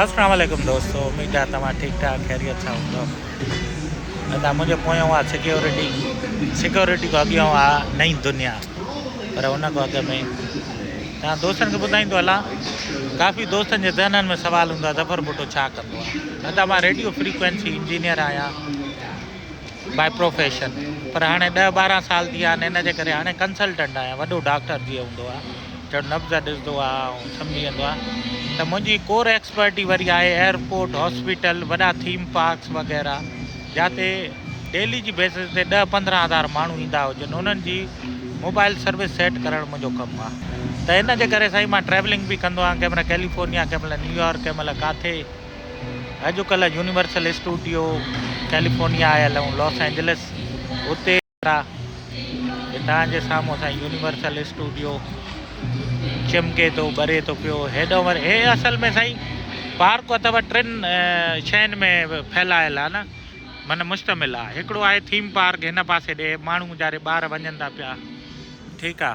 اسلام عليڪم دوستو اميد آ توهان ٺيڪ ٺاڪ خيريت سان هوندو ادا منهنجو پويان آ سيڪيورٽي سيڪيورٽي کان اڳيان آ نئين دنيا پر ان کان اڳ ۾ تان دوستن کي ٻڌائيندو هلان ڪافي دوستن جي ذهنن ۾ سوال هوندو آ ظفر بوٽو ڇا ڪندو آ ادا مان ريڊيو فريڪوينسي انجينئر آهيان بائي پروفيشن پر هاڻي ڏهه ٻارهن سال ٿي ويا آهن ان جي ڪري هاڻي ڪنسلٽنٽ آهيان وڏو ڊاڪٽر جيئن هوندو آ جو نبض ڏسندو آهي ۽ سمجهي ويندو آهي ته منهنجي ڪور ايڪسپرٽي وري آهي ايئرپورٽ، هاسپيٽل، وڏا ٿيم پارڪس وغيره جاتي ڊيلي جي بيسز تي ڏهه پندرهن هزار ماڻهو ايندا هجن انهن جي موبائل سروس سيٽ ڪرڻ منهنجو ڪم آهي ته ان جي ڪري سائين مان ٽريولنگ به ڪندو آهيان ڪنهن مهل ڪيليفورنيا ڪنهن مهل نيويارڪ ڪنهن مهل ڪاٿي اڄ ڪلهه يونيورسل اسٽوڊيو ڪيليفورنيا آيل هيون لاس اينجلس اتي ڪيترا هتان جي سامهون اسان جي يونيورسل اسٽوڊيو چمڪي ٿو ٻري ٿو پيو هيڏو ور هي اصل ۾ سائين پارڪ اٿو ٽن شين ۾ ڦيلايل آ نه من مشتمل آ هڪڙو آهي ٿيم پارڪ هن پاسي ڏي ماڻهو جاري ٻار وڃن ٿا پيا ٺيڪ آ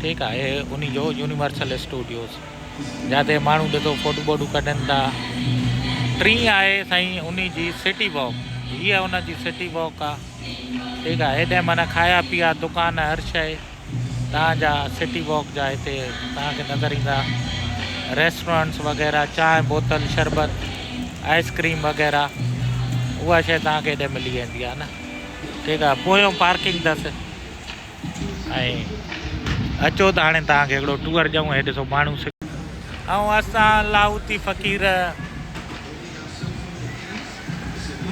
ٺيڪ آهي انهي جو يونيورسل اسٽوڊيوز جاتي ماڻهو ڏسو فوٽو بوٽو ڪڍن ٿا ٽين آهي سائين انهي جي سٽي واڪ هي ان جي سٽي واڪ آهي ٺيڪ آهي هيڏانهن معنيٰ کايا پيا دڪان هر شي تان جا سٽي واڪ جا هتي تان کي نظر ايندا ريسٽورنٽس وغيره چانهه بوتل شربت آئسڪريم وغيره اها شي تان کي هيڏي ملي ويندي آهي نه ٺيڪ آهي پويون پارڪنگ اٿس ۽ اچو ته هاڻي توهان کي هڪڙو ٽوئر ڏيون هي ڏسو ماڻهو سک ۽ اسان لاهوتي فقير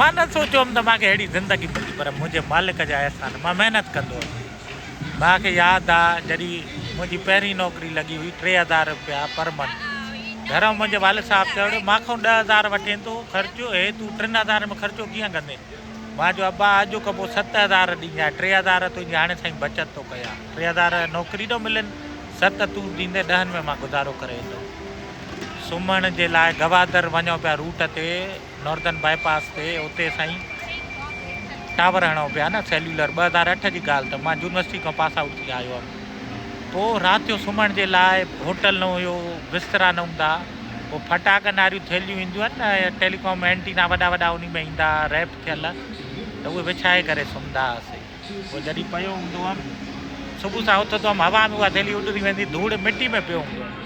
مان نه سوچيو هوم ته مان کي ههڙي زندگي ملندي پر منهنجي مالڪ جا احسان مان محنت ڪندو هوس مان کي ياد آ جڏي منهنجي پهرين نوڪري لڳي هئي ٽي هزار روپيا پر منٿ گهران منهنجي والد صاحب چيو مان کون ڏهه هزار وٺين ٿو خرچ هي تون ٽن هزارن ۾ خرچو ڪيئن ڪندين مان چيو ابا اڄ کان پوء ست هزار ڏيندانء ٽي هزار تنهنجي هاڻي سائين بچت ٿو ڪيان ٽي هزار نوڪري ڏو ملين ست تون ڏيندين ڏهن ۾ مان گذارو ڪري ايندم سمهڻ جي لاء گوادر وڃون پيا روٽ تي نوردن باء پاس تي اتي سائين ٽاور هڻون پيا نه سيلولر ٻه هزار اٺ جي ڳالهه ته مان يونيورسٽي کان پاس آؤٽ ٿي آيو هيم پوء رات جو سمهڻ جي لاء هوٽل نه هيو بسترا نه هوندا هو ڦٽاڪن واريون ٿيلهيون اينديون آهن نه يا ٽيليڪام اينٽينا وڏا وڏا انهي ۾ ايندا ها ريپ ٿيل ته اهي وڇائي ڪري سمهندا هئاسين پوء جڏهن پيو هوندو هئم صبح سان اٿندو هئم هوا ۾ اها ٿيلهي اڏري ويندي ڌوڙ مٽي ۾ پيو هوندو هئم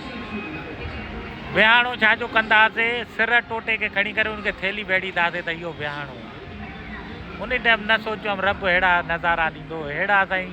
وهاڻو ڇا جو ڪندا هئاسين سر ٽوٽي کي کڻي ڪري ان کي ٿيلهي ويڙهيندا هئاسين ته اهو وهاڻو ان ٽائيم نه سوچيو هئم رب اهڙا نظارا ڏيندو اهڙا سائين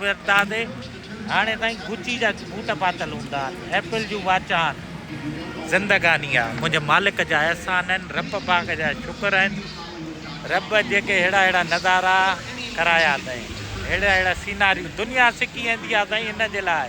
ويرتادي هاڻي تائين گچي جا بوٽ پاتل هوندا آهن، ايپل جون واچون آهن. زندگاني آ منهنجي مالڪ جا احسان آهن، رب پاڪ جا شڪر آهن. رب جيڪي اهڙا اهڙا نظارا ڪرايا اٿئي، اهڙا اهڙا سيناريو دنيا سکي ايندي آ سائين ان جي لاء.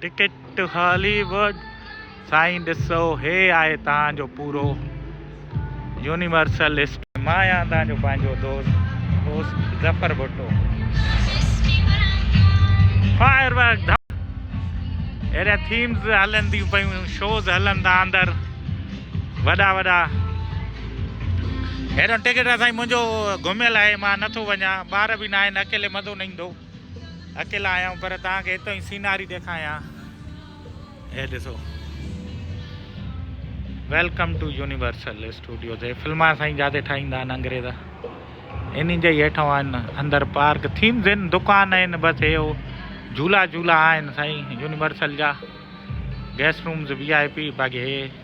ٽڪيٽ هالي ووڊ سائين ڏسو هي آهي توهان جو پورو يونيورسل اسٽ. مان آهيان توهان جو پنهنجو دوست host Zafar Bhutto. Fire work ڌم اهڙيا ٿيمز هلنديون پيون شوز هلن ٿا اندر وڏا وڏا هيڏو ٽڪيٽ سائين منهنجو گهميل آهي مان نٿو وڃان ٻار به ناهن اڪيلي مزو نه ايندو. اڪيلا آهيان پر توهان کي اتان جي سيناري ڏيکاريان هي ڏسو ويلڪم ٽو يونيورسل اسٽوڊيوز هي فلما سائين جادي ٺاهيندا آهن انگريز انهن جا ئي هيٺ آهن اندر پارڪ ٿيمز آهن دڪان آهن بس هي جھولا جھولا آهن سائين يونيورسل جا guest rooms V I P باقي هي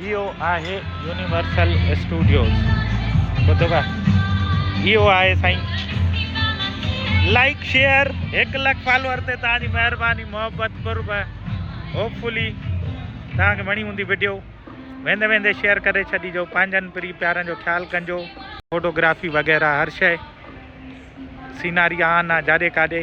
اهو آهي يونيورسل اسٽوڊيوز ٻڌو اهو آهي سائين لائڪ شيئر هڪ لک فالوور تي تان جي مهرباني محبت قرب هوپ فلي تان کي وڻي هوندي ويڊيو ويندي ويندي شيئر ڪري ڇڏي جو پنهنجن پري پيارن جو خيال ڪنجو فوٽوگرافي وغيره هر شيء سيناري آن جاڏي ڪاڏي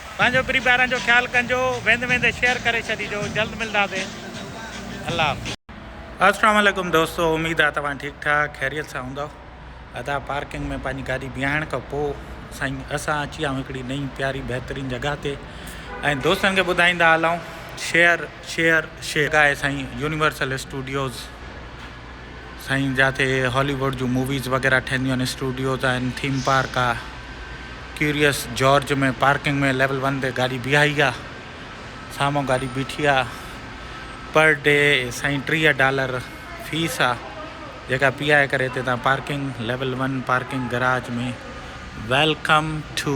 پنهنجو پري پيارن جو خيال ڪنجو ويندي ويندي شيئر ڪري ڇڏيجو جلد ملداسين الله حافظ. اسلام عليڪم دوستو اميد آ توهان ٺيڪ ٺاڪ خيريت سان هوندؤ ادا پارڪنگ ۾ پنهنجي گاڏي بيهائڻ کان پو سائين اسان اچي آئون هڪڙي نئين پياري بهترين جڳهه تي ۽ دوستن کي ٻڌائيندا هلائون شيئر شيئر شيئر جڳهه آهي سائين يونيورسل اسٽوڊيوز. سائين جاتي هالي ووڊ جون موويز وغيره ٺهنديون آهن اسٽوڊيوز آهن ٿيم پارڪ آ curious George ۾ parking ۾ level one تي گاڏي بيهائي آ سامهون گاڏي بيٺي آ پر ڊي سائين ٽيهه ڊالر فيس آ جيڪا پيائي ڪري هتي تان parking level one parking garage ۾ welcome to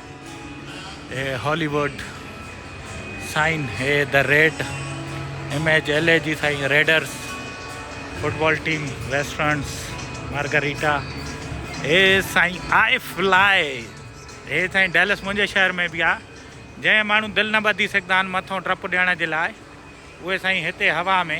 هي هالي ووڊ سائين هي the red image L A جي سائين readers football team westerns margarita هي سائين آئي فلائي هي سائين ڊيلس منهنجي شهر ۾ بي آهي جنهن ماڻهو دل نه ٻڌي سگهندا آهن مٿو ڊپ ڏيڻ جي لاء اهي سائين هتي هوا ۾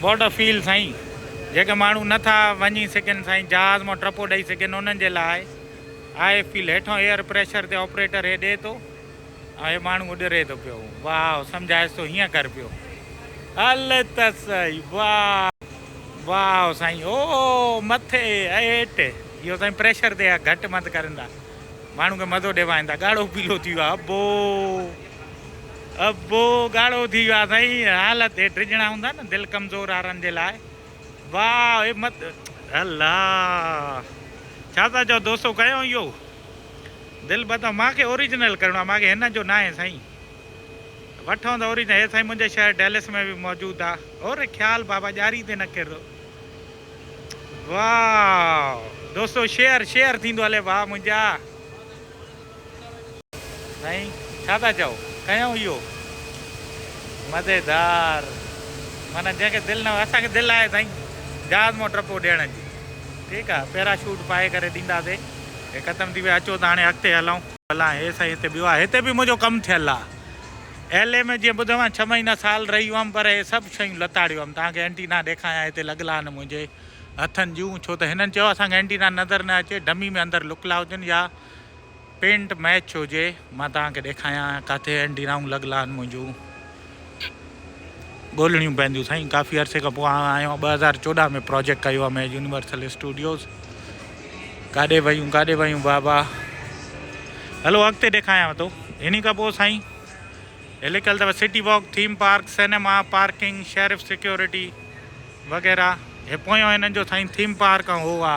واٽ ا فيل سائين جيڪي ماڻهو نه ٿا وڃي سگهن سائين جهاز مان ٽپو ڏئي سگهن انهن جي لاء آهي فيل هيٺون ايئر پريشر تي آپريٽر هي ڏي ٿو ۽ هي ماڻهو اڏري ٿو پيو واهه سمجهائس ٿو هيئن ڪر پيو هل ته سهي واهه واهه سائين او مٿي هيٺ اهو سائين پريشر تي گهٽ مند ڪرن ٿا ماڻهو کي مزو ڏيوائين ٿا ڳاڙهو پيلو ٿي ويو ابو ابو ڳاڙهو ٿي ويو آ سائين حالت هي ڊڄڻا هوندا نه دل ڪمزور وارن جي لاء واء مت الله ڇا ٿا چو دوستو ڪيو اهو دل بتا ماکي اوریجنل ڪرڻو آ ماکي هن جو نه آهي سائين وٺون ته اوریجنل هي سائين منهنجي شهر ڊيلس ۾ به موجود آ اور خيال بابا ڄاري تي نه ڪر واء دوستو شيئر شيئر ٿيندو هلي واء منهنجا سائين ڇا ٿا چئو ڪيائون اهو مزيدار معنيٰ جنهن کي دل نه هو اسان کي دل آهي سائين جهاز مان ٽپو ڏيڻ جي ٺيڪ آهي پيرا شوٽ پائي ڪري ڏينداسي هي ختم ٿي ويو اچو ته هاڻي اڳتي هلون. ڀلا هي سائين هتي ٻيو آهي هتي به منهنجو ڪم ٿيل آهي ايل اي ۾ جيئن ٻڌو آهي ڇهه مهينا سال رهي هئم پر هي سڀ شيون لتاڙيو هئم توهان کي اينٽينا ڏيکايان هتي لڳل آهن منهنجي هٿن جون ڇو ته هنن چيو اسان کي اينٽينا نظر نه اچي ڊمي ۾ اندر لڪل آهي هجن يا پينٽ ميچ هجي مان توهان کي ڏيکايان ڪاٿي اينڊي رائون لڳ لان منهنجون ڳولڻيون پونديون سائين ڪافي عرصي کان پوء آئون آهيان ٻه هزار چوڏهن ۾ پروجيڪٽ ڪيو آهي مين يونيورسل اسٽوڊيوز ڪاڏي ويون ڪاڏي ويون بابا هلو اڳتي ڏيکايان تو ان کان پوء سائين هي لکيل اثر city walk theme park cinema parking sheriff security وغيرہ هي پويون هنن جو سائين ٿيم پارڪ هو آ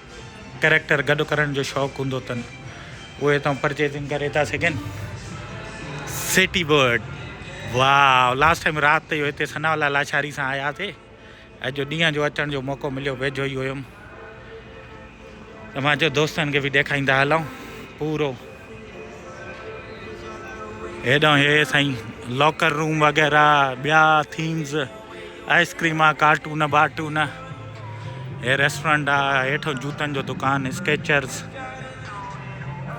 ڪريڪٽر گڏ ڪرڻ جو شوق هوندو تن اهي هتان پرچيزنگ ڪري ٿا سگهن سيٽي برڊ واو لاسٽ ٽائيم رات تي هتي سنا والا لاشاري سان آيا سي اڄ ڏينهن جو اچڻ جو موقعو مليو ويجهو ئي هيم ته مان جو دوستن کي به ڏيکائيندا هلون پورو هيڏانهن هي سائين لاڪر روم وغيرہ بيا ٿيمز آئسڪريم آ ڪارٽون بارٽون هي ريسٽورنٽ آ هيٺو جوتن جو دڪان اسڪيچرز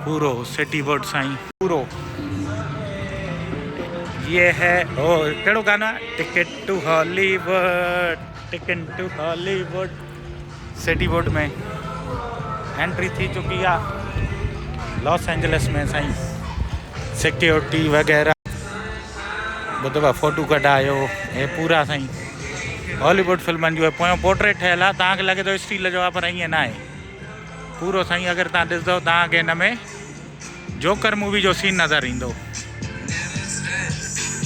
پورو سٽي بورڊ سائين پورو یہ ہے او کيڙو گانا ticket to Hollywood ticket to Hollywood city board ۾ entry ٿي چڪي آ لاس اينجلس ۾ سائين سيڪيورٽي وغيرہ ٻه دفعا فوٽو ڪڍايو هي پورا سائين هاليووڊ فلمن جو پويو پورٽريٽ ٺهيل آ تان کي لڳي ٿو اسٽيل جو آ پر ائين نه آهي پورو سائين اگر تان ڏسدو تان کي ان ۾ جوڪر مووي جو سين نظر ايندو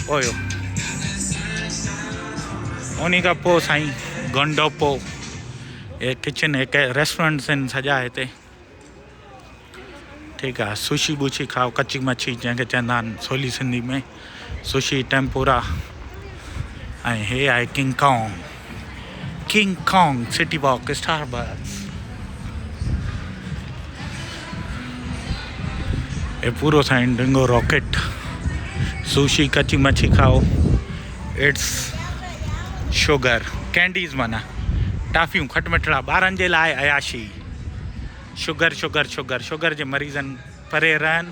هيو انهي کان پوء سائين گنڊوپو هي ڪچن هيڪ ريسٽورنٽ سين سجا هتي ٺيڪ آ سوشي بوشي کائو ڪچي مڇي جنهن کي چوندا آهن سولي سنڌي ۾ سوشي ٽيمپورا ۽ هي آهي king Kong king Kong city walk Starbucks هي پورو سائن ڊنگو راڪيٽ سوشي کچي مڇي کائو ايٽس شوگر ڪينڊيز مانا ٽافيون کٽ مٺڙا ٻارن جي لاء عياشي شوگر شوگر شوگر شوگر جي مريضن پري رهن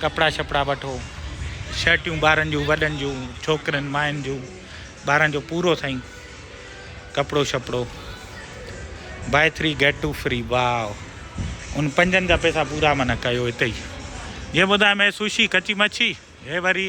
ڪپڙا شپڙا وٺو شرٽيون ٻارن جون وڏن جون ڇوڪرين ماين جون ٻارن جو پورو سائين ڪپڙو شپڙو buy three get two free wow ان پنجن جا پيسا پورا من ڪيو اتي جي ٻڌايم هي سوشي ڪچي مڇي هي وري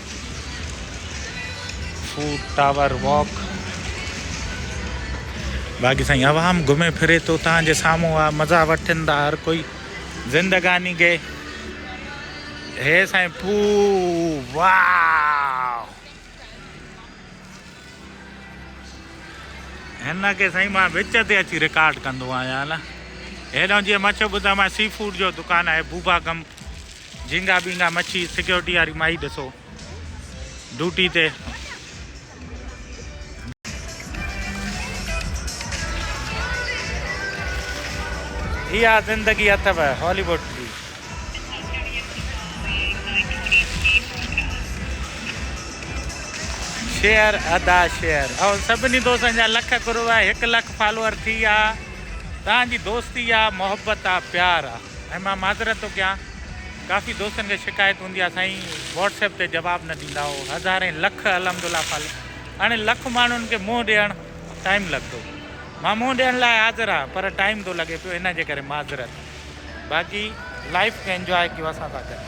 فوڊ ٽاور واڪ. باقي سائين عوام گهمي ڦري ٿو توهان جي سامهون آ مزا وٺن ٿا هر ڪوئي زندگاني گي هي سائين پو واو هن کي سائين مان وچ تي اچي رڪارڊ ڪندو آهيان نه هيڏو جي مڇو ٻڌا مان سي فوڊ جو دڪان آهي بوبا گم جهينگا ٻينگا مڇي سيڪيورٽي واري مائي ڏسو ڊوٽي تي اها زندگي اٿو هالي ووڊ جي شيئر ادا شيئر ۽ سڀني دوستن جا لک گرو آهي هڪ لک فالوور ٿي آ تان جي دوستي آ محبت آ پيار آ ۽ مان معذرت ٿو ڪيان ڪافي دوستن کي شڪايت هوندي آهي سائين واٽس ايپ تي جواب نه ڏيندا او هزارين لک الحمدالله فل هاڻي لک ماڻهن کي منهن ڏيڻ ٽائيم لڳندو مان منهن ڏيڻ لاء حاضر آهيان پر ٽائيم ٿو لڳي پيو ان جي ڪري معذرت باقي لائف کي انجواء ڪيو اسان سان گڏ.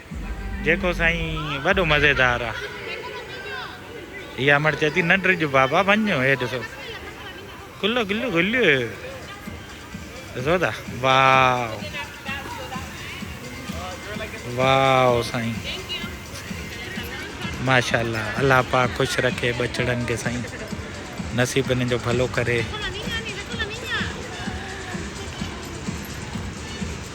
جيڪو سائين وڏو مزيدار آ. هي امڙ چئي ٿي نه ڊڄ بابا وڃ هي ڏسو کلو کلو کلو ڏسو ٿا واو واو سائين ماشاءالله الله پاڪ خوش رکي بچڙن کي سائين نصيب انهن جو ڀلو ڪري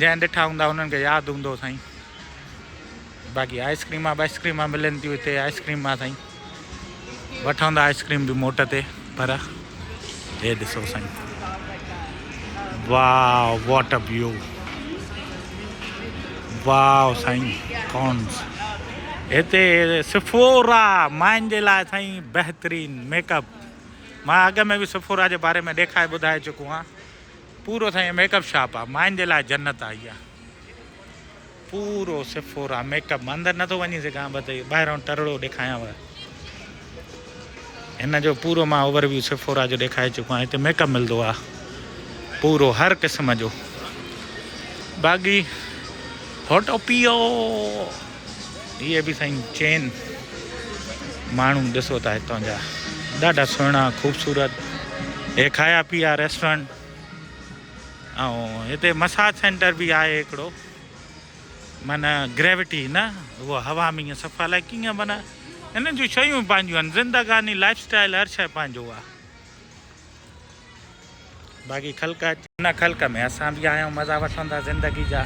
جنهن ڏٺا هوندا انهن کي ياد هوندو سائين باقي آئسڪريما بائسڪريما ملن ٿيون هتي آئسڪريما سائين وٺندا آئسڪريم به موٽ تي پر هي ڏسو سائين واو واٽ ا ويو واو سائين ڪونس هتي سفورا مائن جي لاء سائين بهترين ميڪ اپ مان اڳ ۾ به سفورا جي باري ۾ ڏيکائي ٻڌائي چڪو آهيان پورو سائين ميڪ اپ شاپ آ ماين جي لاء جنت آ اها پورو سفورا ميڪ اپ اندر نٿو وڃي سگهان بس ٻاهران ٽرڙو ڏيکايانو هن جو پورو مان اوور ويو سفورا جو ڏيکاري چڪو آهيان هتي ميڪ اپ ملندو آ پورو هر قسم جو باقي هوٽو پيو هي به سائين چين ماڻهو ڏسو ته هتان جا ڏاڍا سهڻا خوبصورت هي کايا پيا ريسٽورنٽ اتي مساج سينٽر به آهي هڪڙو معنی گريوٽي نه هو هوا ۾ صفا لاء ڪيئن معنی انهن جون شيون پنهنجون آهن زندگاني لائف اسٽائل هر شي پنهنجو آهي باقي خلق اچي. ان خلق ۾ اسان به آهيون مزا وٺندا زندگي جا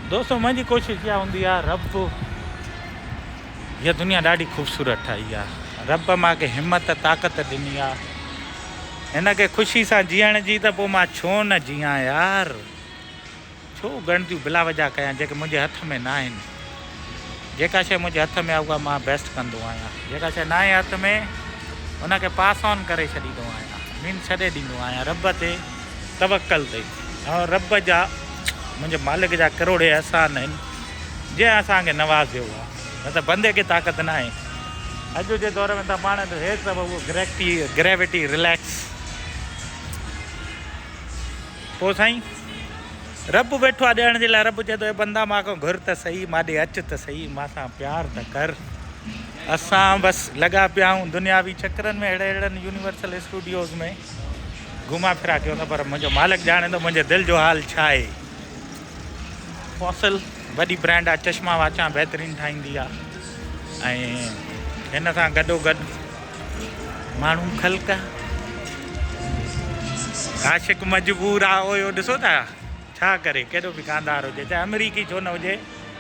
دوستو منهنجي ڪوشش اها هوندي آهي رب هيء دنيا ڏاڍي خوبصورت ٺاهي آهي رب مان کي همت طاقت ڏني آهي هن کي خوشي سان جيئڻ جي ته پوء مان ڇو نه جيان يار. ڇو ڳڻتيون بلا وجهه ڪيان جيڪي منهنجي هٿ ۾ ناهن. جيڪا شيء منهنجي هٿ ۾ آهي اها مان بيسٽ ڪندو آهيان. جيڪا شيء ناهي هٿ ۾ ان کي پاس آن ڪري ڇڏيندو آهيان. مين ڇڏي ڏيندو آهيان رب تي توڪل تي. ۽ رب جا منهنجي مالڪ جا ڪروڙين احسان آهن جنهن اسان کي نوازيو آهي. نه ته بندي کي طاقت ناهي. اڄ جي دور ۾ ته پاڻ هيس اهو گريڪٽي، گريوٽي، ريليڪس. پوء سائين! رب ويٺو آ ڏيڻ جي لاء، رب چئي ٿو اي بندا مان کان گهر ته سهي، مان ڏي اچ ته سهي، مان سان پيار ته ڪر. اسان بس لڳا پيا آهيون دنياوي چڪرن ۾ اهڙي اهڙن يونيورسل اسٽوڊيوز ۾ گهما ڦرا ڪيون ٿا پر منهنجو مالڪ ڄاڻي ٿو منهنجي دل جو حال ڇا آهي. فوسل وڏي برانڊ آ چشما واچان بهترين ٺاهيندي آ ۽ هن سان گڏو گڏ ماڻهو خلق عاشق مجبور آ اويو ڏسو ٿا ڇا ڪري ڪيڏو به گاندار هجي چاهي امريڪي ڇو نه هجي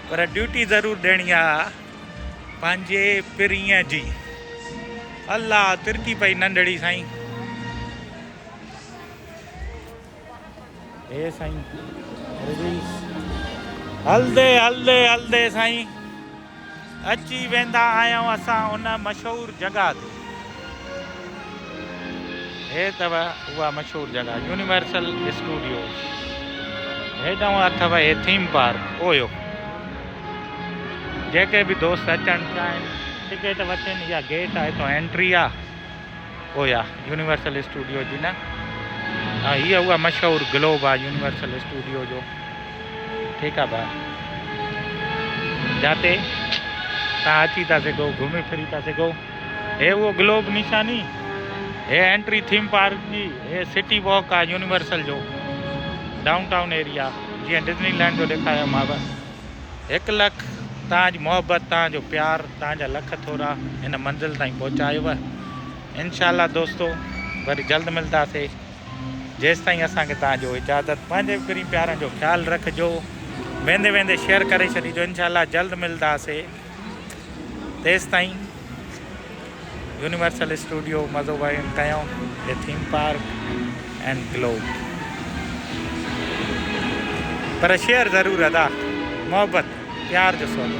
پر ڊيوٽي ضرور ڏيڻي آ پنهنجي پرينء جي الله ترڪي پئي ننڍڙي سائين هي سائين ريلز هلدي هلدي هلدي سائين اچي ويندا آهيون اسان ان مشهور جگا تي هي تب هوا مشهور جگا يونيورسل اسٽوڊيو هيداون اتھو هي ٿيم پارڪ اويو جيڪي به دوست اچڻ چاهين ٽڪيٽ وٺين يا گيٽ آهي تو انٽري آ اويا يونيورسل اسٽوڊيو جي نه ها هي اها مشهور گلوب آ يونيورسل اسٽوڊيو جو ٺيڪ آ ڀاء جاتي تان اچي ٿا سگهو گهمي ڦري ٿا سگهو هي اهو گلوب نشاني هي انٽري ٿيم پارڪ جي هي سٽي واڪ آ يونيورسل جو ڊائون ٽائون ايريا جيئن ڊزني لينڊ جو ڏيکايو ماو هڪ لک تان جي محبت تان جو پيار تان جا لک ٿورا هن منزل تائين پهچايو انشاء الله دوستو وري جلد ملداسي جيستائين اسان کي تان جو اجازت پنهنجي پرين پيارن جو خيال رکجو ويندي ويندي شيئر ڪري ڇڏيجو انشاء الله جلد ملداسي تيستائين يونيورسل اسٽوڊيو مزو وين ڪيو the theme park and globe پر شيئر ضرور ادا محبت پيار جو سودو.